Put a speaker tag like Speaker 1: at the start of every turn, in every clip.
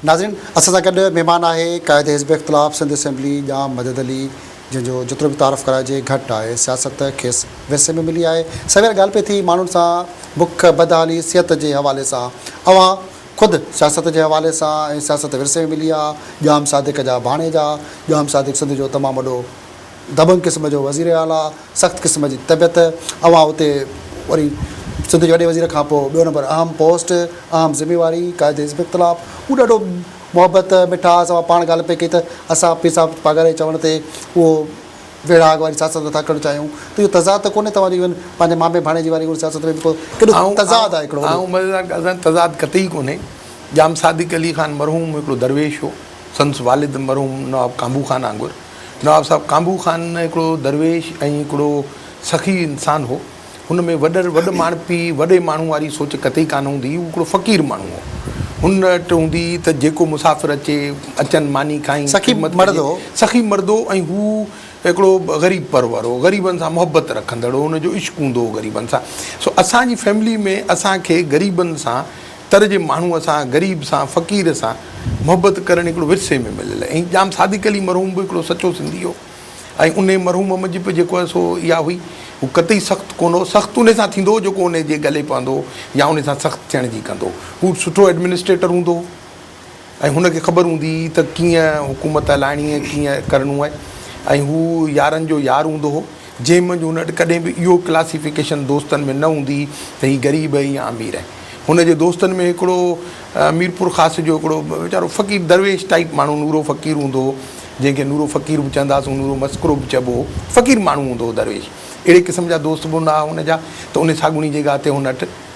Speaker 1: ناظرين اسان سان گڏ مهمان آهي قائد حزب اختلاف سنڌ اسيمبلي ڄام مدد علي جنهن جو جيترو به تعارف ڪرائجي گهٽ آهي سياست کيس ورثي ۾ ملي آهي سوير ڳالهه پئي ٿي ماڻهن سان بک بدحالي صحت جي حوالي سان اوهان خود سياست جي حوالي سان ۽ سياست ورثي ۾ ملي آهي ڄام صادق جا ڀاڻيجا ڄام صادق سنڌ جو تمام وڏو دبنگ قسم جو وزير اعليٰ سخت قسم جي طبيعت اوهان اتي وري سنڌ جي وڏي وزير کان پوء ٻيو نمبر اهم پوسٽ اهم ذميواري قائد حزب اختلاف اهو ڏاڍو محبت مٺاس اوهان پاڻ ڳالهه پئي ڪئي ته اسان پير صاحب پاڳاري جي چوڻ تي اهو ويڙهاڪ واري سياست نٿا ڪرڻ چاهيون ته اهو تضاد ته ڪونهي توهان جو ايون پنهنجي مامي ڀاڻيجي واري ان سياست ۾ به ڪو ڪيڏو تضاد آهي هڪڙو وڏو. مزيدار ڳالهه سائين تضاد قطعي ڪونهي
Speaker 2: ڄام صادق علي خان مرحوم هڪڙو درويش هو سندس والد مرحوم نواب ڪانبو خان آنگر نواب صاحب ڪانڀو خان هڪڙو درويش ۽ هڪڙو سخي انسان هو. هن ۾ وڏر وڏ ماڻهپي، وڏي ماڻهو واري سوچ قطعي ڪانه هوندي هئي. هو هڪڙو فقير ماڻهو هو. هن وٽ هوندي هئي ته جيڪو مسافر اچي، اچن، ماني کائين، سخي خدمت مرد ڪجي. هو. سخي مرد هو ۽ هو هڪڙو غريب پرور هو. غريبن سان محبت رکندڙ هو. هن جو عشق هوندو هو غريبن سان. سو اسان جي فيملي ۾ اسان کي غريبن سان تر جي ماڻهوء سان، غريب سان، فقير سان محبت ڪرڻ هڪڙو ورثي ۾ مليل ۽ ڄام صادق علي مرحوم به هڪڙو سچو سنڌي هو ۽ انهي مرحوم منجهه به جيڪو سو اها هئي هو قطعي سخت ڪونه هو سخت انهي سان ٿيندو هو جيڪو انهي جي ڳلي پوندو هو يا انهي سان سخت ٿيڻ جي ڪندو هو هو سٺو ايڊمنسٽريٽر هوندو هو. ۽ هن کي خبر هوندي هئي ته ڪيئن حڪومت هلائڻي ۽ ڪيئن ڪرڻو آهي ۽ هو يارن جو يار هوندو هو، جنهن منجهه هن وٽ ڪڏهن به اهو ڪلاسيفڪيشن دوستن ۾ نه هوندي هئي ته هي غريب آهي يا امير آهي. هن جي دوستن ۾ هڪڙو ميرپور خاص جو هڪڙو ويچارو فقير درويش ٽائيپ ماڻهو نورو فقير هوندو هو، جنهن کي نورو فقير به چوندا هئاسون، نورو مسڪرو به چئبو هو، فقير ماڻهو هوندو هو درويش. اهڙي قسم جا دوست به هوندا هئا هن جا ته ان ساڳوڻي جي ڳاهه تي هن وٽ.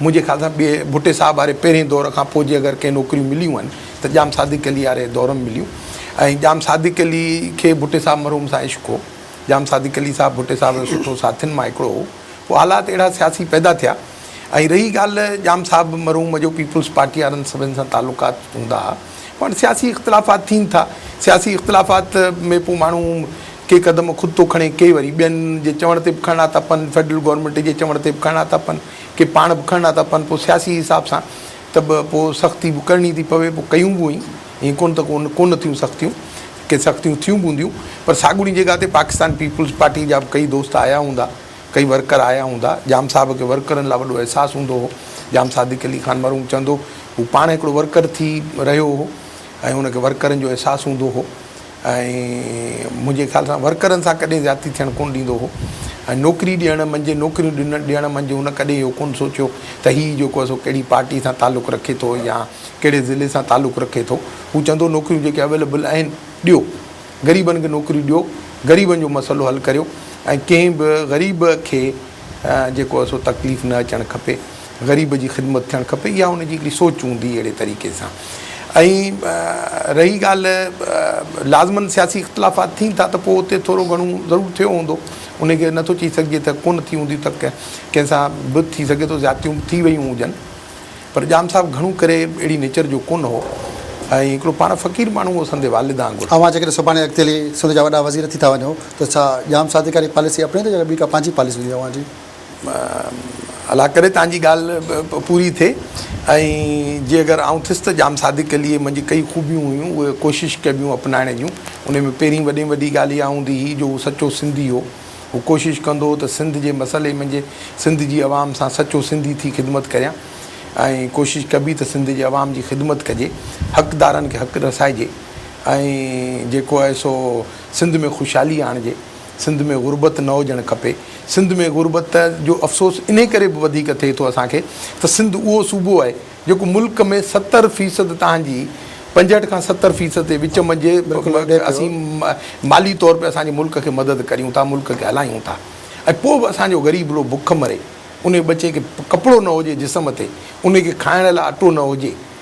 Speaker 2: منهنجي خيال سان ٻئي ڀٽي صاحب واري پهرين دور کان پوء جي اگر ڪنهن نوڪريون مليون آهن ته ڄام صادق علي واري دور ۾ مليون ۽ ڄام صادق علي کي ڀٽي صاحب مرحوم سان عشق هو ڄام صادق علي صاحب ڀٽي صاحب جو سٺو ساٿين مان هڪڙو هو پوء حالات اهڙا سياسي پيدا ٿيا ۽ رهي ڳالهه ڄام صاحب مرحوم جو پيپلز پارٽي وارن سڀن سان تعلقات هوندا ها پوء هاڻي سياسي اختلافات ٿين ٿا سياسي اختلافات ۾ پوء ماڻهو ڪي قدم خود ٿو کڻي ڪي وري ٻين جي چوڻ تي به کڻڻا ٿا پن فيڊرل گورنمينٽ جي چوڻ تي به کڻڻا ٿا پن ڪي پاڻ به کڻندا ٿا پون پوء سياسي حساب سان ته به پوء سختي به ڪرڻي ٿي پوي پوء ڪيون به هئين ائين ڪونه ته ڪو ڪونه ٿيون سختيون ڪي سختيون ٿيون به هونديون پر ساڳوڻي جڳهه تي پاڪستان پيپلز پارٽي جا به ڪئي دوست آيا هوندا ڪئي ورڪر آيا هوندا ڄام صاحب کي ورڪرن لاء وڏو احساس هوندو هو ڄام صادق علي خان مرحوم چوندو هو پاڻ هڪڙو ورڪر ٿي رهيو هو ۽ ان کي ورڪرن جو احساس هوندو هو ۽ منهنجي خيال سان ورڪرن سان ڪڏهن زيادتي ٿيڻ ڪونه ڏيندو هو ۽ نوڪري ڏيڻ منجهه نوڪريون ڏنڻ ڏيڻ منجهه هن ڪڏهن اهو ڪونه سوچيو ته هي جيڪو آهي سو ڪهڙي پارٽي سان تعلق رکي ٿو يا ڪهڙي ضلعي سان تعلق رکي ٿو هو چوندو نوڪريون جيڪي اويليبل آهن ڏيو غريبن کي نوڪري ڏيو غريبن جو مسئلو حل ڪريو ۽ ڪنهن به غريب کي جيڪو آهي سو تڪليف نه اچڻ کپي غريب جي خدمت ٿيڻ کپي اها ان جي هڪڙي سوچ هوندي اهڙي طريقي سان ۽ رهي ڳالهه لازمن سياسي اختلافات ٿين ٿا ته پوء اتي ٿورو گهڻو ضرور ٿيو هوندو ان کي نٿو چئي سگهجي ته ڪونه ٿي هوندي ته ڪنهن سان به ٿي سگهي ٿو زيادتيون به ٿي ويون هجن پر ڄام صاحب گهڻو ڪري اهڙي نيچر جو ڪونه هو ۽ هڪڙو پاڻ فقير ماڻهو هو سندي والد آنگر اوهان جيڪڏهن سڀاڻي اڳتي
Speaker 1: هلي سنڌ جا وڏا وزير ٿي ٿا وڃو ته ڇا ڄام صادق واري پاليسي اپنائيندو يا ٻي ڪا پنهنجي پاليسي هوندي اوهان جي؟
Speaker 2: الله ڪري توهان جي ڳالهه پوري ٿئي ۽ جي اگر آئون ٿيس ته ڄام صادق عليء منجهه ڪئي خوبيون هيون اهي ڪوشش ڪبيون اپنائڻ جون انهي ۾ پهرين وڏي ۾ وڏي ڳالهه اها هوندي هئي جو هو سچو سنڌي هو هو ڪوشش ڪندو هو ته سنڌ جي مسئلي منجهه سنڌ جي عوام سان سچو سنڌي ٿي خدمت ڪريان ۽ ڪوشش ڪبي ته سنڌ جي عوام جي خدمت ڪجي حقدارن کي حق رسائجي ۽ جيڪو آهي سو سنڌ ۾ خوشحالي آڻجي سنڌ ۾ غربت نه هجڻ کپي. سنڌ ۾ غربت جو افسوس انهي ڪري به وڌيڪ ٿئي ٿو اسان کي ته سنڌ اهو صوبو آهي جيڪو ملڪ ۾ ستر فيصد تان جي پنجهٺ کان ستر فيصد جي وچ منجهه اسين مالي طور تي اسان جي ملڪ کي مدد ڪريون ٿا ملڪ کي هلايون ٿا ۽ پوء به اسان جو غريب لو بک مري انهي ٻچي کي ڪپڙو نه هجي جسم تي انهي کي کائڻ لاء اٽو نه هجي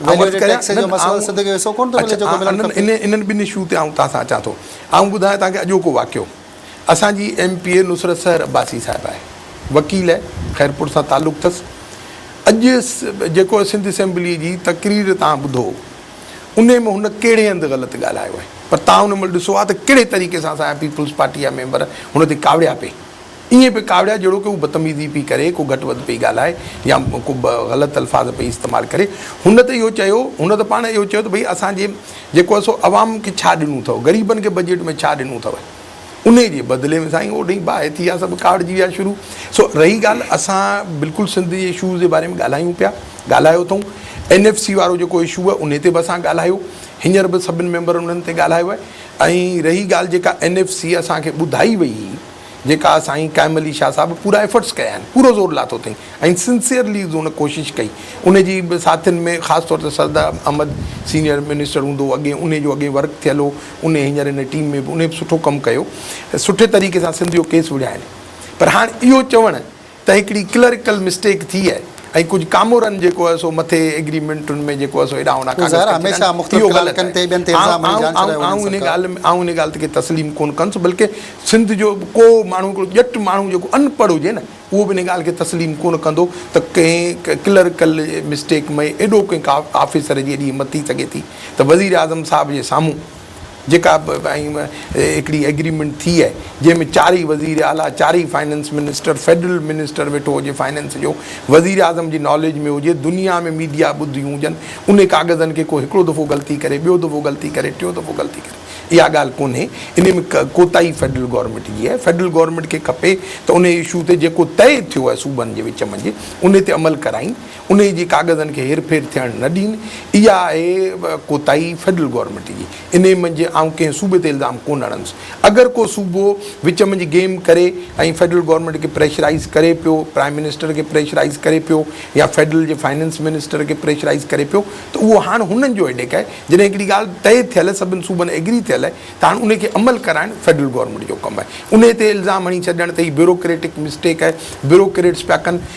Speaker 2: ويليو ايڊڊ ٽيڪس جو مسئلو سنڌ کي حصو ڪونه ٿو ملي جيڪو ملڻ کپي. انهن ٻنهي اشو تي آئون توهان سان اچان ٿو. آئون ٻڌايان توهان کي اڄوڪو واقعو. اسان جي M P A Nusrat Sehar Abbasi صاحب آهي. وڪيل آهي. خيرپور سان تعلق اٿس. اڄ جيڪو سنڌ اسيمبلي جي تقرير توهان ٻڌو انهي ۾ هن ڪهڙي هنڌ غلط ڳالهايو آهي پر توهان ان مهل ڏسو ها ته ڪهڙي طريقي سان اسان جا پيپلز پارٽي جا ميمبر هن تي ڪاوڙيا پئي ائين پئي ڪاوڙيائي جهڙوڪ هو بدتميزي پئي ڪري، ڪو گهٽ وڌ پئي ڳالهائي يا ڪو غلط الفاظ پئي استعمال ڪري. هن ته اهو چيو، هن ته پاڻ اهو چيو ته ڀئي اسان جي جيڪو آهي سو عوام کي ڇا ڏنو اٿئو، غريبن کي بجيٽ ۾ ڇا ڏنو اٿئو. انهيء جي بدلي ۾ سائين اوڏهين باهه ٿي ويا، سڀ ڪاوڙجي ويا شروع. سو رهي ڳالهه اسان بلڪل سنڌ جي اشوز جي باري ۾ ڳالهايون پيا، ڳالهايو اٿئون. اين ايف سي وارو جيڪو اشو آهي انهي تي به اسان ڳالهايو، هينئر به سڀني ميمبرن انهن تي ڳالهايو آهي ۽ رهي ڳالهه جيڪا اين ايف سي اسان کي ٻڌائي وئي، جيڪا سائين قائم علي شاهه صاحب پورا ايفرٽس ڪيا آهن پورو زور لاٿو اٿئي ۽ سنسيئرلي هن ڪوشش ڪئي ان جي ساٿين ۾ خاص طور تي سرد احمد سينيئر منسٽر هوندو هو اڳي ان جو اڳي ورڪ ٿيل هو ان هينئر ان ٽيم ۾ به ان به سٺو ڪم ڪيو سٺي طريقي سان سنڌ جو ڪيس وڙهيائين پر هاڻ اهو چوڻ ته هڪڙي ڪلرڪل مسٽيڪ ٿي آهي ۽ ڪجهه ڪامورن جيڪو آهي سو مٿي ايگريمينٽن ۾ جيڪو آهي سو هيڏانهون هوڏانهون ڪاغذ ڪري ڇڏيا آهن اهو غلط آهي آئون ان ڳالهه ۾ آئون ان ڳالهه تي ڪي تسليم ڪونه ڪندس بلڪه سنڌ جو به ڪو ماڻهو هڪڙو ڄٽ ماڻهو جيڪو ان پڙهه هجي نه اهو به ان ڳالهه کي تسليم ڪونه ڪندو ته ڪنهن ڪلرڪل مسٽيڪ ۾ ايڏو ڪنهن آفيسر جي ايڏي همت ٿي سگهي ٿي ته وزيراعظم صاحب جي سامهون جيڪا هڪڙي ايگريمينٽ ٿي آهي جنهن ۾ چارئي وزير اعليٰ چارئي فنانس منسٽر فيڊرل منسٽر ويٺو هجي فنانس جو وزير اعظم جي ناليج ۾ هجي دنيا ۾ ميڊيا ٻڌيون هجن انهي ڪاغذن کي ڪو هڪڙو دفعو غلطي ڪري ٻيو دفعو غلطي ڪري ٽيون دفعو غلطي ڪري اها ڳالهه ڪونهي انهي ۾ ڪوتاهي فيڊرل گورنمينٽ جي آهي فيڊرل گورنمينٽ کي کپي ته انهي اشو تي جيڪو طئي ٿيو آهي صوبن جي وچ منجهه انهي تي عمل ڪرائين انهي جي ڪاغذن کي هيرڦير ٿيڻ نه ڏين، اها آهي ڪوتاهي فيڊرل گورنمينٽ جي. انهي منجهه آئون ڪنهن صوبي تي الزام ڪونه هڻندس. اگر ڪو صوبو وچ منجهه گيم ڪري ۽ فيڊرل گورنمينٽ کي پريشرائيز ڪري پيو، پرائيم منسٽر کي پريشرائيز ڪري پيو يا فيڊرل جي فائننس منسٽر کي پريشرائيز ڪري پيو ته اهو هاڻ هنن جو هيڊيڪ آهي. جڏهن هڪڙي ڳالهه طئي ٿيل، سڀن صوبن ايگري ٿيل ته هاڻ انهي کي عمل ڪرائڻ فيڊرل گورنمينٽ جو ڪم آهي. انهي تي الزام هڻي ڇڏڻ ته هي بيوروڪريٽڪ مسٽيڪ آهي، بيوروڪريٽس پيا ڪن.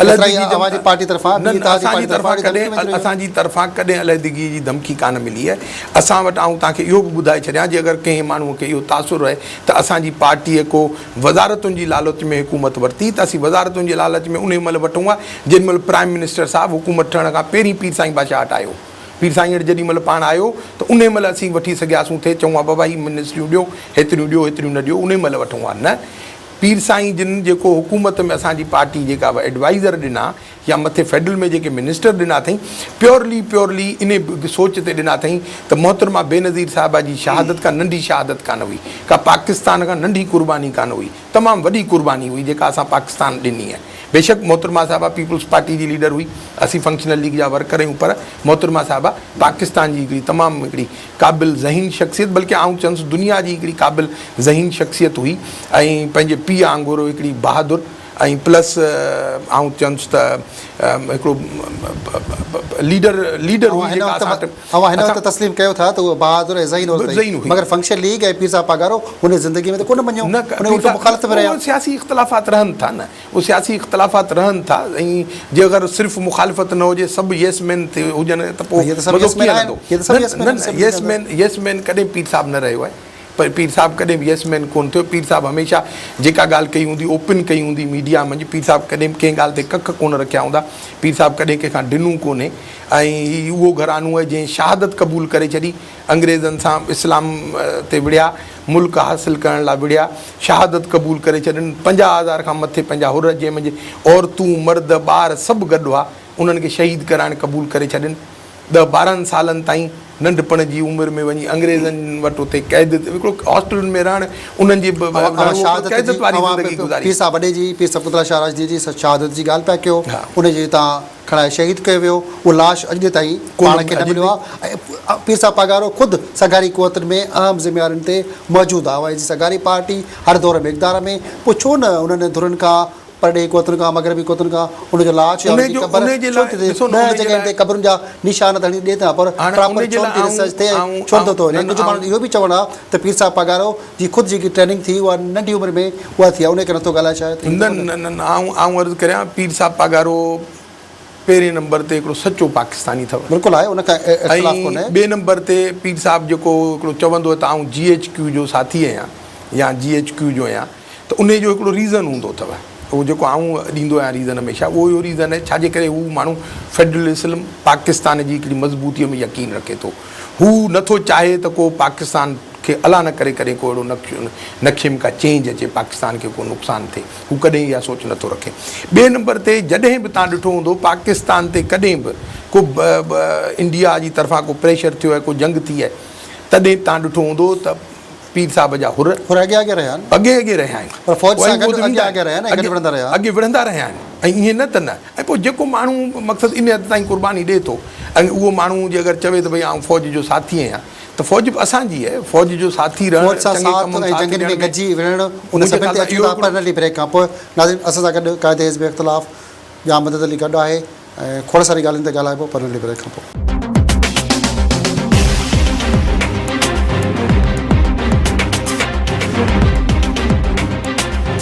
Speaker 2: علحدگي جي اوهان جي پارٽي طرفان ٻي اتحادي پارٽي طرفان اهڙي ڌمڪي وڃي رهي اسان جي طرفان ڪڏهن علحدگي جي ڌمڪي ڪانه ملي آهي اسان وٽ آئون توهان کي اهو به ٻڌائي ڇڏيان جي اگر ڪنهن ماڻهو کي اهو تاثر رهي ته اسان جي پارٽي ڪو وزارتن جي لالچ ۾ حڪومت ورتي ته اسين وزارتن جي لالچ ۾ انهي مهل وٺون ها جنهن مهل پرائيم منسٽر صاحب حڪومت ٺهڻ کان پهرين پير سائين بادشاهه هٽ آيو پير سائين هٽ جيڏي مهل پاڻ آيو ته انهي مهل اسين وٺي سگهياسون ٿي چئون ها بابا هي منسٽريون ڏيو هيتريون ڏيو هيتريون نه ڏيو انهي مهل وٺون ها نه پير سائين جن جيڪو حڪومت ۾ اسان جي پارٽي جيڪا به ايڊوائيزر ڏنا يا مٿي فيڊرل ۾ جيڪي منسٽر ڏنا اٿئين پيورلي پيورلي انهي سوچ تي ڏنا اٿئين ته محترمه بينظير صاحبه جي شهادت ڪا ننڍي شهادت ڪانه هئي ڪا پاڪستان کان ننڍي قرباني ڪانه هئي تمام وڏي قرباني هئي جيڪا اسان پاڪستان ڏني ۽ بيشڪ محترمه صاحبه پيپلز پارٽي جي ليڊر هئي اسين فنڪشنل ليگ جا ورڪر آهيون پر محترمه صاحبه پاڪستان جي هڪڙي تمام هڪڙي قابل ذهين شخصيت بلڪه آئون چئنس دنيا جي هڪڙي قابل ذهين شخصيت هئي ۽ پنهنجي پيء آنگورو هڪڙي بهادر ۽ پلس آئون چئنس ته هڪڙو ليڊر ليڊر هئي جيڪا اسان وٽ
Speaker 1: اوهان هن وقت تسليم ڪيو ٿا ته هوء بهادر ۽ ذهين عورت هئي مگر فنڪشن ليگ ۽ پير صاحب پاڳارو هن جي زندگي ۾ ته ڪونه مڃيو انهي هڪ مخالفت ۾ رهيا.
Speaker 2: سياسي اختلافات رهن ٿا نه اهي سياسي اختلافات رهن ٿا ۽ جي اگر صرف مخالفت نه هجي سڀ ييس مين ٿي هجن ته پوء مزو ڪيئن ايندو؟ نه نه نه ييس مين ييس مين ڪڏهن پير صاحب نه رهيو آهي پر پير صاحب ڪڏهن به ييس مين ڪونه ٿيو پير صاحب هميشه جيڪا ڳالهه ڪئي هوندي اوپن ڪئي هوندي ميڊيا منجهه پير صاحب ڪڏهن به ڪنهن ڳالهه تي ڪک ڪونه رکيا هوندا پير صاحب ڪڏهن ڪنهن کان ڊنون ڪونه ۽ هي اهو گهرانو آهي جنهن شهادت قبول ڪري ڇڏي انگريزن سان اسلام تي وڙهيا، ملڪ حاصل ڪرڻ لاء وڙهيا، شهادت قبول ڪري ڇڏين، پنجاهه هزار کان مٿي پنهنجا حر جنهن منجهه عورتون، مرد، ٻار سڀ گڏ هئا، انهن کي شهيد ڪرائڻ قبول ڪري ڇڏين. ڏهه ٻارهن سالن تائين ننڍپڻ جي عمر ۾ وڃي انگريزن وٽ اتي قيد هڪڙو هاسٽلن ۾ رهڻ انهن جي قيدت واري
Speaker 1: زندگي گذاري. کڻائي شهيد ڪيو ويو، اهو لاش اڄ ڏينهن تائين پاڻ کي نه مليو آهي ۽ پير صاحب پاڳارو خود سگهاري قوتن ۾ اهم ذميوارين تي موجود آهي جي سگهاري پارٽي هر دور ۾ اقتدار ۾ پوء ڇو نه انهن ڌرين کان پرڏيهي قوتن کان مغربي قوتن کان ان جو لاش يا ان جي قبر ڇو نه ٿي ٿئي ڏهه جڳهين تي قبرن جا نشان ته هڻي ڏي ٿا پر پراپر ڇو نه ٿي ريسرچ ٿئي ڇو نه ٿو ٿئي ۽ ڪجهه ماڻهن جو اهو به چوڻ آهي ته پير صاحب پاڳارو جي خود جيڪي ٽريننگ ٿي اها ننڍي عمر ۾ اها ٿي آهي انهي ڪري نٿو ڳالهائي شايد. نه نه نه نه آئون
Speaker 2: آئون عرض ڪريان پير صاحب پاڳارو پهرين نمبر تي هڪڙو سچو پاڪستاني اٿو. بلڪل آهي ان کان اختلاف
Speaker 1: ڪونهي. ۽ ٻئي
Speaker 2: نمبر تي پير صاحب جيڪو هڪڙو چوندو ته آئون جي ايڇ ڪيو جو ساٿي آهيان يا جي ايڇ ڪيو جو آهيان ته انهي جو هڪڙو ريزن هوندو اٿو اهو جيڪو آئون ڏيندو آهيان ريزن هميشه اهو اهو ريزن آهي ڇا جي ڪري هو ماڻهو فيڊرل اسلم پاڪستان جي هڪڙي مضبوطي ۾ يقين رکي ٿو. هو نه ٿو چاهي ته ڪو پاڪستان کي الا نه ڪري ڪڏهن ڪو اهڙو نکيم ڪا چينج اچي پاڪستان کي ڪو نقصان ٿئي هو ڪڏهن اها سوچ نه ٿو رکي ٻئي نمبر تي جڏهن به تان ڏٺو هوندو پاڪستان تي ڪڏهن به ڪو انڊيا جي طرفان ڪو پريشر ٿيو آهي ڪو جنگ ٿي آهي تڏهن تان ڏٺو هوندو ته پير صاحب جا حر حر اڳي اڳي رهيا آهن. اڳي
Speaker 1: اڳي رهيا آهن. پر فوج سان گڏ اڳي اڳي رهيا آهن ۽ گڏ وڙهندا
Speaker 2: رهيا. اڳي وڙهندا رهيا آهن ۽ ائين نه ته نه ۽ پوء جيڪو ماڻهو مقصد ان حد تائين قرباني ڏئي ٿو ۽ اهو ماڻهو جي اگر چوي ته ڀئي آئون فوج جو ساٿي آهيان ته فوج به اسان جي آهي فوج جو ساٿي رهڻ فوج سان ساٿ ۽ جنگين ۾ گڏجي وڙهڻ ان
Speaker 1: سڀني تي اچون ٿا پر ننڍي بريڪ کان پوء ناظرين اسان سان گڏ قائد حزب اختلاف ڄام مدد علي گڏ آهي. ۽ کوڙ سارين ڳالهين تي ڳالهائبو پر ننڍي بريڪ کان پوء.